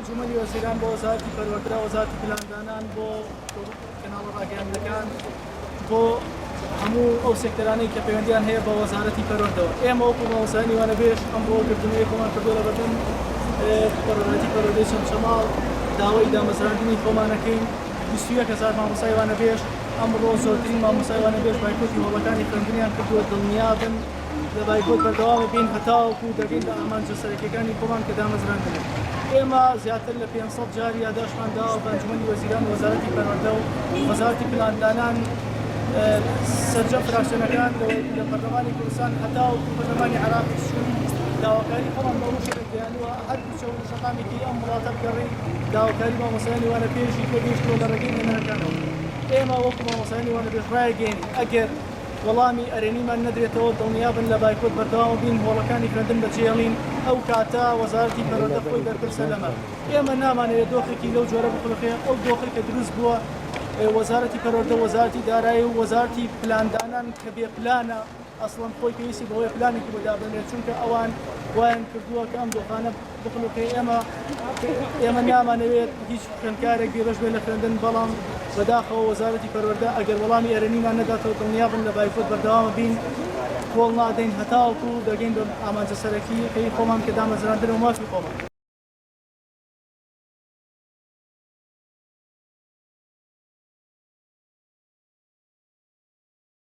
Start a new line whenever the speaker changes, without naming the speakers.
ئەنجومەنی وەزیران بۆ وەزارتی پەروەردە وەزارتی پلاندانان بۆ کەناڵە ڕاگەیاندەکان بۆ هەموو ئەو سێکتەرانەی کە پەیوەندیان هەیە بە وەزارەتی پەروەردەوە ئێمە وەکو مامۆستایانی وانەبێژ ئەم بۆ گردنەوەی خۆمان کردووە لە بەردەم پەرۆراتی پەرۆدەی چەمچەماڵ داوای دامەزراندنی خۆمانەکەین بیست و یەک هەزار مامۆستای وانەبێژ، ئەمڕۆ زۆرترین مامۆستای وانەبێژ بایکۆتی هۆڵەکانی خوێندنیان کردووە، دڵنیابن لە بایکۆت بەردەوام دەبین هەتاوەکو دەگەین بە ئامانجە سەرەکیەکانی خۆمان کە دامەزران دەبێت. ئێمە زیاتر لە پێنج سەد جار یاداشتمان داوە بە ئەنجومەنی وەزیران و وەزارەتی پەروەردە و وەزارەتی پلاندانان سەرجەم فراکسیۆنەکان لە پەرلەمانی کوردستان هەتاوەکو پەرلەمانی عێراقیش داواکاری خۆمان بە ڕوشەکە گەیاندووە هەر کچەو نوژەنانی تری ئەم وڵاتە بگەڕی داواکاری مامۆستایانی وانە بێژی پێ گەیشتووە لە ڕێگەی نوێنەرەکانەوە ئێمە وەکو مامۆستایانی وانە بێژ ڕایەگەیەنین ئەگەر وەڵامی ئەرێنیمان نەدرێتەوە دڵنیابن لە بایکۆت بەردەوام بین هۆڵەکانی خوێندن بەجێڵین ئەو کاتە وەزارەتی پەروەردە خۆی بەرپرسە لەمە ئێمە نامانەوێت دۆخێکی لەو جۆرە بخلقێ ئەو دۆخی کە دروست بووە وەزارەتی پەروەردە وەزارەتی دارایی و وەزارەتی پلاندانان کە بێ پلانە ئەسڵەن خۆی پێویستی بەوەیە پلانێکی بۆ دابنرێت، چونکە ئەوان وایان کردووە کە ئەم دۆخانە بخنووقێ، ئێمە ئێمە نامانەوێت هیچ خوێندکارێک بێبەش بێت لە خوێندن، بەڵام بەداخەوە وەزارەتی پەروەردە ئەگەر وەڵامی ئەرێنیمان نەداتەوە دڵنیابن لە بایکۆت بەردەوام بین، کۆڵ نادەین هەتاوەکو دەگەین بە ئامانجە سەرەکییەکەی خۆمان کە دامەزراندنە و مافی خۆمان.